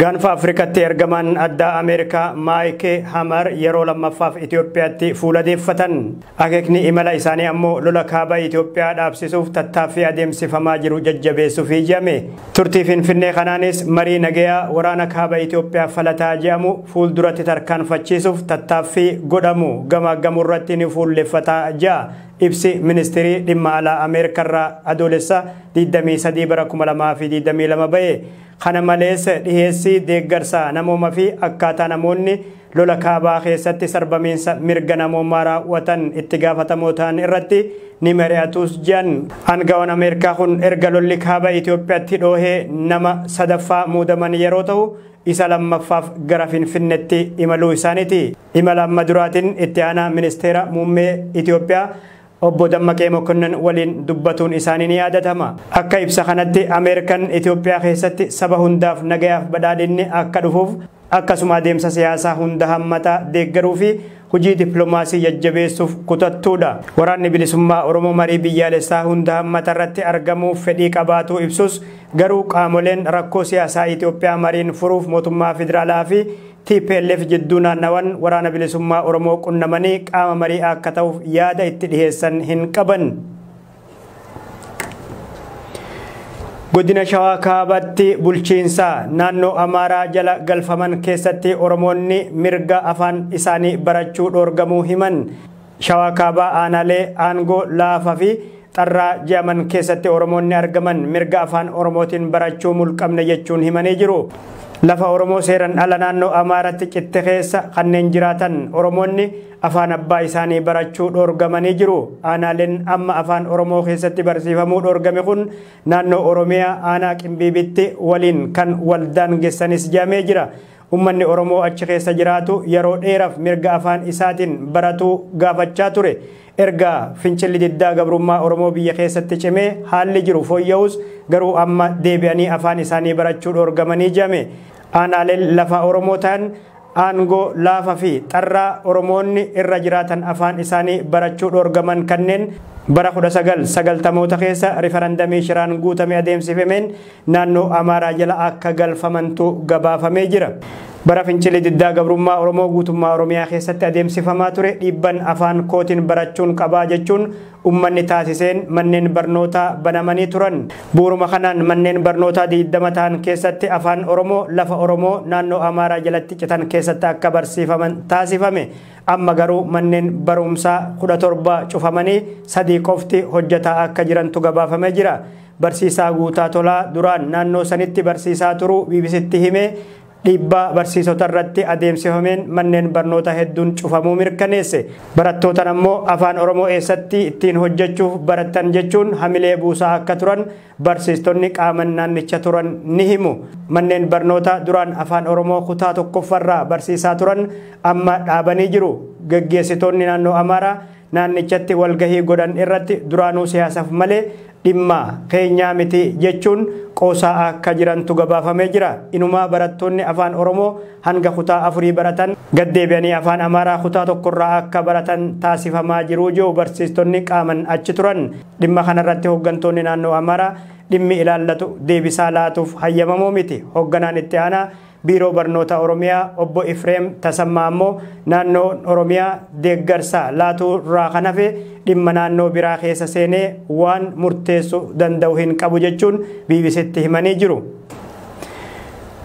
Gaanfa Afrikatti ergamaan addaa Ameerikaa Maayike Hamar yeroo lammaffaaf Itoophiyaatti fuula deeffatan. Akeekni imala isaanii ammoo lola kaaba Itoophiyaa dhaabsisuuf tattaaffii adeemsifamaa jiru jajjabeessuuf ijame. Turtii Finfinnee kanaanis marii nagayaa waraana kaaba Itoophiyaa falataa jedhamu fuulduratti tarkaanfachiisuuf tattaaffii godhamu gamaaggamuu irratti ni fuulleffata jedha Ibsi Ministirii Dhimma Alaa Ameerikaarraa Adoolessa 23 bara 2022 ba'e kana malees dhiheessii deeggarsa namooma fi akkaataa namoonni lola kaabaa keessatti sarbamiinsa mirga namoomaa raawwatan itti gaafatamoo ta'an irratti ni mari'atuus jedhan. Aangawaan Ameerikaa kun erga lolli kaaba Itoophiyaatti dhoohee nama sadaffaa muudaman yeroo ta'u, isa lammaffaaf gara Finfinnetti imaluu isaaniiti. Imala amma duraatiin itti aanaa ministeera muummee Itoophiyaa obbo Dammaqee Mokonnon waliin dubbatuun isaanii ni yaadatama. Akka ibsa kanatti Ameerikan Itoophiyaa keessatti saba hundaaf nagayaaf badhaadhinni akka dhufuuf akkasuma adeemsa siyaasaa hunda hammataa deeggaruu fi hojii dippilomaasii jajjabeessuuf kutattuudha. Waraanni Bilisummaa Oromoo marii biyyaalessaa hunda hammatarratti argamuuf fedhii qabaatuu ibsus, garuu qaamoleen rakkoo siyaasaa Itoophiyaa mariin furuuf mootummaa federaalaa fi tplf jidduu naannawan Waraana Bilisummaa Oromoo qunnamanii qaama marii akka ta'uuf yaada itti dhiheessan hin qaban. Godina Shawaa Kaabaatti bulchiinsa naannoo Amaaraa jala galfaman keessatti Oromoonni mirga afaan isaanii barachuu dhoorgamuu himan. Shawaa Kaabaa aanaalee aangoo laafaa fi xarraa je'aman keessatti Oromoonni argaman mirga afaan Oromootiin barachuu mulqamne jechuun himanii jiru. Lafa Oromoo seeran ala naannoo Amaaratti citte keessa kanneen jiraatan Oromoonni Afaan abbaa isaanii barachuu dhoorgamanii jiru. Aanaaleen amma Afaan Oromoo keessatti barsiifamuu dhoorgame kun naannoo Oromiyaa aanaa Qimbiibitti waliin kan wal daangessanis jedhamee jira. Ummanni Oromoo achi keessa jiraatu yeroo dheeraf mirga afaan isaatiin baratuu gaafachaa ture. Erga fincilli diddaa gabrummaa Oromoo biyya keessatti cimee haalli jiru fooyya'us garuu amma deebi'anii afaan isaanii barachuu dhoorgamanii jedhame. Aanaaleen lafaa Oromoo ta'an Aangoo laafa fi xarraa Oromoonni irra jiraatan afaan isaanii barachuu dhoorgaman kanneen bara 1990moota keessa rifarandamii shiraan guutame adeemsifameen naannoo Amaaraa jala akka galfamantu gabaafamee jira. Bara fincilli diddaa gabrummaa Oromoo guutummaa Oromiyaa keessatti adeemsifamaa ture dhiibban afaan kootiin barachuun qabaa jechuun ummanni taasiseen manneen barnootaa banamanii turan. Bu'uruma kanaan manneen barnootaa 20 tahan keessatti Afaan Oromoo lafa Oromoo naannoo Amaaraa jalatti citan keessatti akka barsiifaman taasifame. Amma garuu manneen baruumsaa 17 cufamanii sadii qofti hojjataa akka jirantu gabaafamee jira. Barsiisaa Guutaa Tolaa duraan naannoo sanitti barsiisaa turuu BBCtti hime. Dhiibbaa barsiisota irratti adeemsifameen manneen barnoota hedduun cufamuu mirkaneesse. Barattootan ammoo Afaan Oromoo eessatti ittiin hojjechuuf barattan jechuun hamilee buusaa akka turan barsiistonni qaaman naannicha turan ni himu. Manneen barnoota duraan Afaan Oromoo kutaa tokkoffarraa barsiisaa turan amma dhaabanii jiru. Gaggeessitoonni naannoo Amaaraa naannichatti walgahii godhan irratti duraanuu siyaasaaf malee dhimma keenyaa miti jechuun qoosaa akka jirantu gabaafamee jira. Inumaa barattoonni afaan Oromoo hanga kutaa afurii baratan gad deebi'anii afaan Amaaraa kutaa tokkorraa akka baratan taasifamaa jiru jiru barsiistonni qaaman achi turan. Dhimma kanarratti hooggantoonni naannoo Amaaraa dhimmi ilaallatu deebisaa laatuuf hayyamamoo miti. Hoogganaan itti aanaa Biiroo Barnoota Oromiyaa obbo Ifreem Tasammaa ammoo naannoon Oromiyaa deeggarsa laatuu irraa kan hafe dhimma naannoo biraa keessa seenee waan murteessu danda'u hin qabu jechuun BBCtti himanii jiru.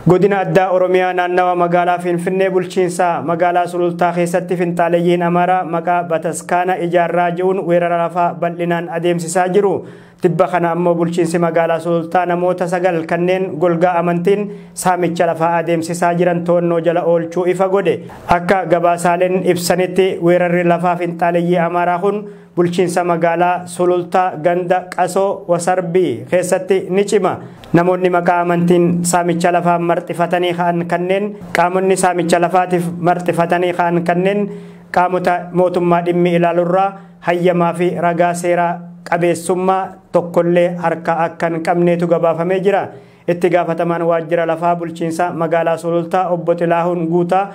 Godina addaa Oromiyaa naannawa magaalaa Finfinnee bulchiinsa magaalaa Sulultaa keessatti finxaaleyyiin Amaaraa maqaa bataskaana ijaarraa ji'uun weerara lafaa bal'inaan adeemsisaa jiru. Tibba kana ammoo bulchiinsi magaalaa Sulultaa namoota sagal kanneen golgaa amantiin saamicha lafaa adeemsisaa jiran to'annoo jala oolchuu ifa godhe. Akka gabaasaaleen ibsanitti weerarri lafaa finxaaleyyii Amaaraa kun bulchiinsa magaalaa Sulultaa ganda Qasoo Wasarbii keessatti ni cima. Namoonni maqaa amantiin saamicha lafaa marxifatanii ka'an kanneen qaamonni saamicha lafaatiif marxifatanii ka'an kanneen qaamota mootummaa dhimmi ilaalurraa hayyamaa fi ragaa seeraa qabeessummaa tokkollee harkaa akka hin qabneetu gabaafamee jira. Itti gaafatamaan waajjira lafaa bulchiinsa magaalaa Sulultaa obbo Xilaahuun Guutaa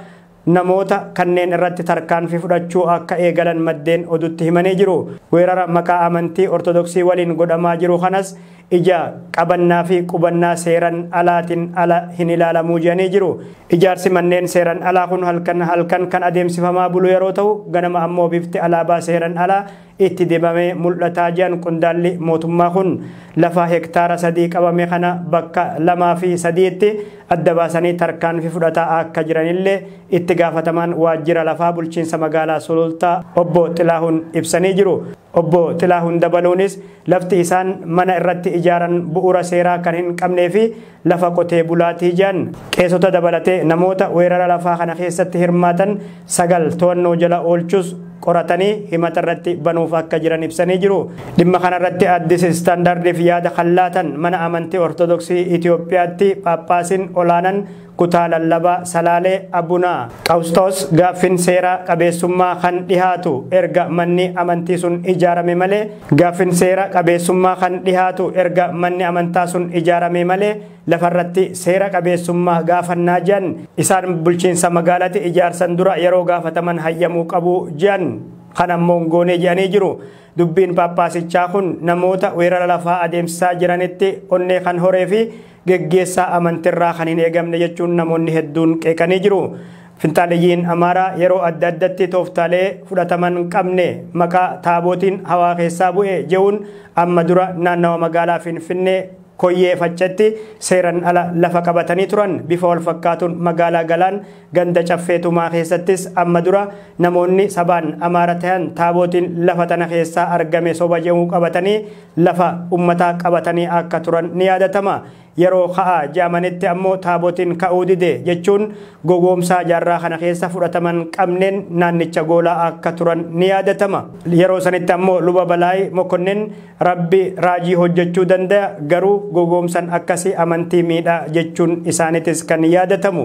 namoota kanneen irratti tarkaanfii fudhachuu akka eegalan maddeen oduutti himanii jiru. Weerara maqaa amantii Ortodoksii waliin godhamaa jiru kanas ija qabannaa fi qubannaa seeran alaatin ala hin ilaalamuu jedhanii jiru. Ijaarsi manneen seeran alaa kun halkan halkan kan adeemsifamaa bulu yeroo ta'u ganama ammoo bifti alaabaa seeran alaa itti dibamee mul'ataa jedhan qondaalli mootummaa kun. Lafa hektaara sadii qabame kana bakka lamaa fi sadiitti adda baasanii tarkaanfi fudhataa akka jiranillee itti gaafatamaan waajjira lafaa bulchiinsa magaalaa Sulultaa obbo Xilaahun ibsanii jiru. Obbo Xilaahun dabaluunis Lafti isaan mana irratti ijaaran bu'uura seeraa kan hin qabnee fi lafa qotee bulaatii jedhan. Qeesota dabalatee namoota weerara lafaa kana keessatti hirmaatan sagal to'annoo jala oolchuus qoratanii himata irratti banuuf akka jiran ibsanii jiru. Dhimma kana irratti Addis Standardiif yaada kan laatan mana amantii Ortodoksii Itoophiyaatti Phaaphaasiin olaanan Kutaa Lallaba Salaalee Abuna Qawusxoos gaaffin seera qabeessummaa kan dhihaatu erga manni amantii sun ijaarame malee gaaffin seera qabeessummaa kan dhihaatu erga manni amantaa sun ijaaramee malee lafarratti seera qabeessummaa gaafannaa jean isaan bulchiinsa magaalati ijaarsan dura yeroo gaafataman hayyamuu qabu jean kan ammoo hin goonee je'anii jiru dubbiin paappaasichaa kun namoota weerara lafaa adeemsisaa jiranitti onnee kan horee fi geggeessaa amantirraa kan hin eegamne jechuun namoonni hedduun qeeqanii jiru. Finxaaleyyiin Amaaraa yeroo adda addatti tooftaalee fudhataman qabne maqaa taabootiin hawaa keessaa bu'e je'uun amma dura naannawa magaalaa Finfinnee koyyee faccetti seeran ala lafa qabatanii turan bifa wal fakkaatuun magaalaa Galaan ganda caffee tumaa keessattis amma dura namoonni sabaan Amaara tahan taabootiin lafa tana keessaa argame soba je'uu qabatanii lafa ummataa qabatanii akka turan ni yaadatama. Yeroo ka'aa je'amanitti ammoo taabotiin ka'uu dide jechuun gogoomsaa jaarraa kana keessa fudhataman qabneen naannicha goolaa akka turan ni yaadatama. Yeroo sanitti ammoo Luba Balaay Mokonnin Rabbi raajii hojjachuu dandaya garuu gogoomsan akkasi amantii miidha jechuun isaanitis kan yaadatamu.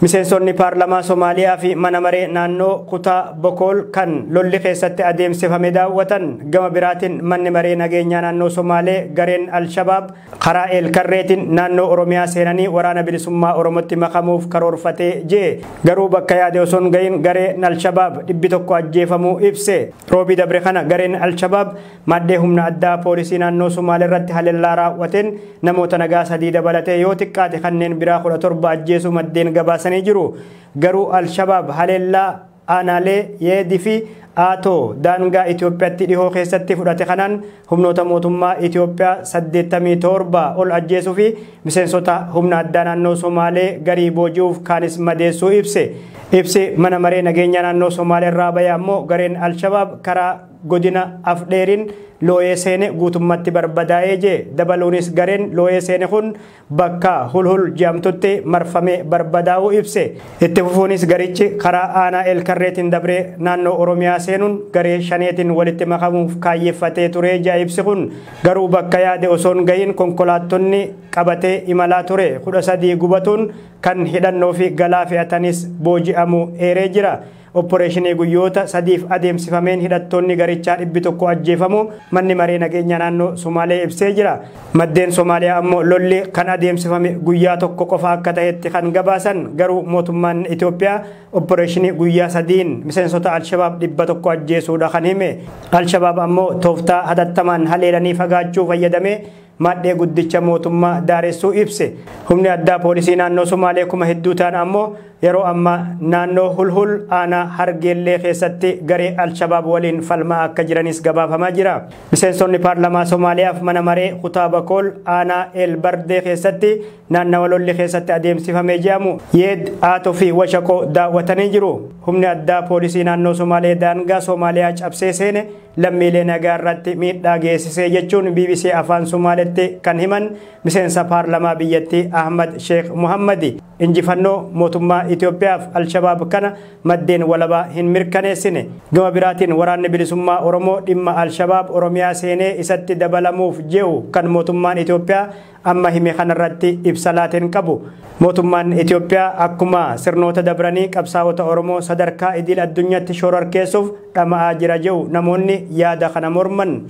Miseensonni paarlamaa Somaaliyaa fi mana maree naannoo kutaa Bokool kan lolli keessatti adeemsifame daawwatan gama biraatiin manni maree nageenyaa naannoo Somaalee gareen Al-Shabaab karaa eelkarreetiin naannoo Oromiyaa seenanii waraana bilisummaa Oromootti makamuuf karoorfatee jee garuu bakka yaade osoo hin gahin gareen Al-Shabaab dhibbi tokko ajjeefamuu ibse. Roobii dabre kana gareen Al-Shabaab Maddee humna addaa poolisii naannoo Sumaalee irratti haleellaa raawwateen namoota nagaa sadii dabalatee yoo xiqqaate kanneen biraa 17 ajjeesuu maddeen gabaasanii jiru. Garuu Al-Shabaab haleellaa aanaalee Yeedii fi Aatoo daangaa Itoophiyaatti dhihoo keessatti fudhate kanaan humnoota mootummaa Itoophiyaa 87 ol ajjeesuu fi miseensota humna addaa naannoo Somaalee garii booji'uuf kaanis madeessuu ibse. Ibsi mana maree nageenyaa naannoo Somaalee irraa bahe ammoo gareen Al-Shabaab karaa Godina Afdheeriin looyee seene guutummatti barbadaa'ee jee dabaluunis gareen looyee seene kun bakka Hulhul jeamtutti marfamee barbadaa'uu ibse. Itti fufuunis garichi karaa aanaa Eelkarreetiin dabree naannoo Oromiyaa seenuun garee Shaneetiin walitti makamuuf kaayyeffatee turee jea ibsi kun. Garuu bakka yaade osoon gahiin konkolaattonni qabatee imalaa ture 13 gubatuun kan hidhannoofi galaa fe'atanis booji'amuu eeree jira. Opporeeshinii guyyoota sadiif adeemsifameen hidhattoonni garichaa dhibbi tokko ajjeefamuu manni maree nageenyaa naannoo Somaalee ibsee jira. Maddeen Somaaliyaa ammoo lolli kan adeemsifame guyyaa tokko qofa akka ta'etti kan gabaasan garuu mootummaan Itoophiyaa opporeeshinii guyyaa sadiin miseensota Alshabaab dhibba tokko ajjeesuudha kan hime. Alshabaab ammoo tooftaa hatattamaan haleelanii fagaachuu fayyadamee maadhee guddicha mootummaa daaressuu ibse. Humni addaa poolisii naannoo Sumaalee kuma hedduu ta'an ammoo yeroo ammaa naannoo Hulhul aanaa Hargeellee keessatti garee Alshabaab waliin falmaa akka jiranis gabaafamaa jira. Miseensonni paarlamaa Somaaliyaaf mana maree kutaa Bakool aanaa El Bardee keessatti naannawa lolli keessatti adeemsifamee jedhamu Yeed Aato fi Washaqoo daawwatanii jiru. Humni addaa poolisii naannoo Somaalee daangaa Somaaliyaa cabsee seene lammiilee nagaa irratti miidhaa geessisee jechuun bbc afaan sumaaletti kan himan miseensa paarlamaa biyyattii ahmad sheekh muhammadi injifannoo mootummaa itiyoophiyaaf alshabaab kana maddeen walabaa hin mirkaneessine gama biraatiin waraanni bilisummaa oromoo dhimma alshabaab oromiyaa seenee isatti dabalamuuf jehu kan mootummaan itiyoophiyaa amma hime kanarratti ibsa laateen qabu. Mootummaan Itoophiyaa akkuma sirnoota dabranii qabsaa'ota Oromoo sadarkaa idil addunyaatti shororkeessuuf dhama'aa jira jedhu namoonni yaada kana morman.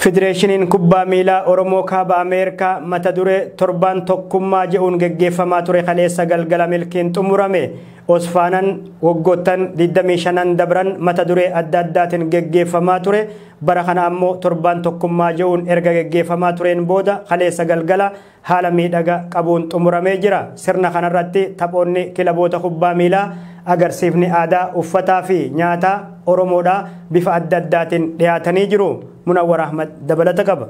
Federeeshiniin kubbaa miilaa Oromoo kaaba Ameerikaa mata duree torbaan tokkummaa jedhuun geggeeffamaa ture kaleessa galgala milkiin xumurame. Osfaanan waggoottan 25 dabran mata duree adda addaatiin geggeeffamaa ture. Bara kana ammoo torbaan tokkummaa je'uun erga geggeeffamaa tureen booda kaleessa galgala haala miidhaga qabuun xumuramee jira. Sirna kanarratti taphoonni kilaboota kubbaa miilaa, agarsiifni aadaa, uffataa fi nyaataa Oromoodhaa bifa adda addaatiin dhiyaatanii jiru. Munawwar Ahmad dabalata qaba.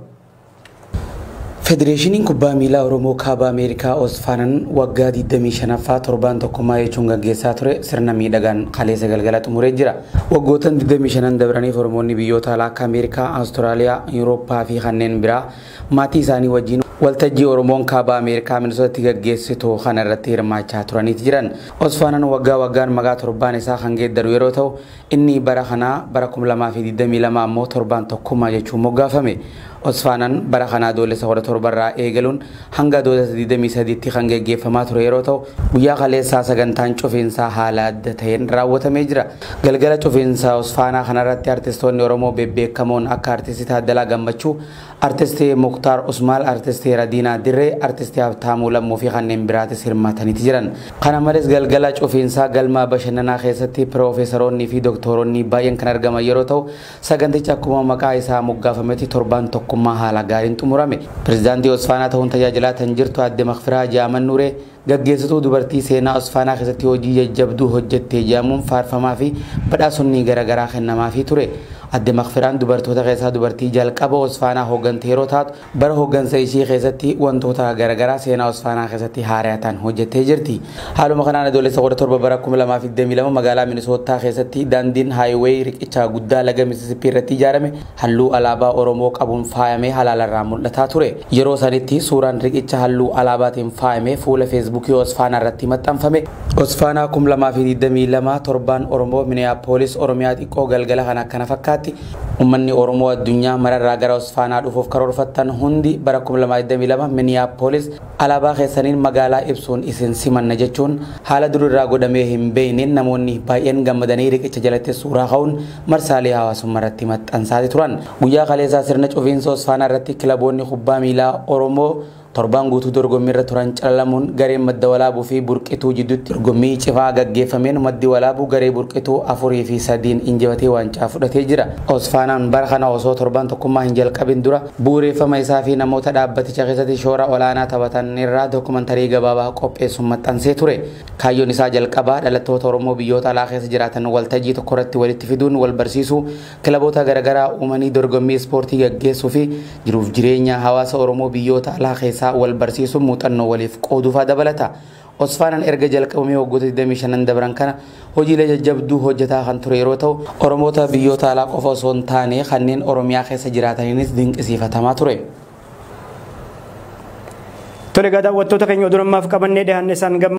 Federeeshiniin Kubbaa Miilaa Oromoo Kaaba Ameerikaa Osfaanan waggaa 25ffaa torbaan tokkummaa jechuun gaggeessaa ture sirna miidhagaan kaleessa galgala xumuree jira. Waggootan 25n dabraniif Oromoonni biyyoota alaa akka Ameerikaa, Awustiraaliyaa, Yurooppaa fi kanneen biraa maatii isaanii wajjin waltajjii Oromoon Kaaba Ameerikaa Minisootaatti gaggeessitu kana irratti hirmaachaa turaniiti jiran. Osfaanan waggaa waggaan maqaa torbaan isaa kan geeddaru yeroo ta'u, Inni bara kanaa bara 2022 ammoo Torbaan Tokkummaa jechuun moggaafame. Osfaanan bara kana Adoolessa 17 irraa eegaluun hanga Adoolessa 23tti kan geggeeffamaa ture yeroo ta'u, guyyaa kaleessaa sagantaan cufiinsaa haala adda ta'een raawwatamee jira. Galgala cufiinsa Osfaanaa kanarratti artistoonni Oromoo bebbeekamoon akka Artisti Taaddalaa Gammachuu, Artist Muktaar Usmaal, Artist Radiinaa Dirree, Artist Habtaamuu Lammuu fi kanneen biraatis hirmaataniiti jiran. Kana malees galgala cufiinsaa galma bashannanaa keessatti Piroofeesaroonnii fi Doktooronnii baay'een kan argaman yeroo ta'u, sagantichi akkuma maqaa isaa moggaafametti torbaan tokkummaa haala gaariin xumurame. Pirezidaantii Osfaanaa ta'uun tajaajilaa tan jirtu Aadde Makfiraa Haaji Ahmad Nuuree, Gaggeessituu dubartii seenaa Osfaanaa keessatti hojii jajjabduu hojjette jedhamuun faarfamaafi badhaasonni garagaraa kennamaafii ture. Adde Makfiraan dubartoota keessaa dubartii jalqaba Osfaanaa hooggante yeroo taatu, bara hooggansa ishii keessatti wantoota garagaraa seenaa Osfaanaa keessatti haaraya ta'an hojjettee jirti. Haaluma kanaan Adoolessa 17 bara 2022 magaalaa Minisoottaa keessatti daandiin, highway, riqicha guddaa laga Mississippi irratti ijaarame, halluu alaabaa Oromoo qabuun faayamee halaalarraa mul'ataa ture. Yeroo sanitti suuraan riqicha halluu alaabaatiin faayame fuula Feesbuukii Osfaanaa irratti maxxanfame. Osfaanaa 2022 Torbaan Oromoo Minneapolis Oromiyaa xiqqoo galgala kana akkana fakkaatti. Ummanni Oromoo addunyaa mararraa gara Osfaanaa dhufuuf karoorfattan hundi bara 2022 Minneapolis alaabaa keessaniin magaalaa ibsuun isin simanna jechuun haala dur irraa godhamee hin beekneen namoonni baay'een gammadanii riqicha jalatti suuraa ka'uun marsaalee hawaasummaa irratti maxxansaati turan. Guyyaa kaleessaa sirna cufiinsa Hosfaanaa irratti kilaboonni kubbaa miilaa Oromoo torbaan guutuu dorgommii irra turan calalamuun gareen Madda Walaabuu fi Burqituu jidduutti dorgommii cifaa gaggeeffameen Maddi Walaabuu garee Burqituu 4 fi 3n injifatee waancaa fudhatee jira. Hosfaanaan bara kana osoo torbaan tokkummaa hin jalqabin dura bu'ureeffama isaa fi namoota dhaabbaticha keessatti shoora olaanaa taphatan irraa dokumantarii gabaabaa qopheessuun maxxansee ture. Kaayyoon isaa jalqabaa dhalattoota Oromoo biyyoota alaa keessa jiraatan waltajjii tokko irratti walitti fiduun wal barsiisuu, kilaboota garaagaraa uumanii dorgommii ispoortii gaggeessuu fi jiruuf jireenya hawaasa Oromoo biyyoota alaa keessaa wal barsiisuun muuxannoo waliif qooduu fa'aa dabalata. Osfaanaan erga jalqabamee waggoota 25n dabran kana hojiilee jajjabduu hojjetaa kan ture yeroo ta'u, Oromoota biyyoota alaa qofa osoo hin taane kanneen Oromiyaa keessa jiraataniinis dinqisiifatamaa ture. Tole egaa daawwattoota keenya oduun ammaaf qabannee dhiyaanne isaan gammachiisa.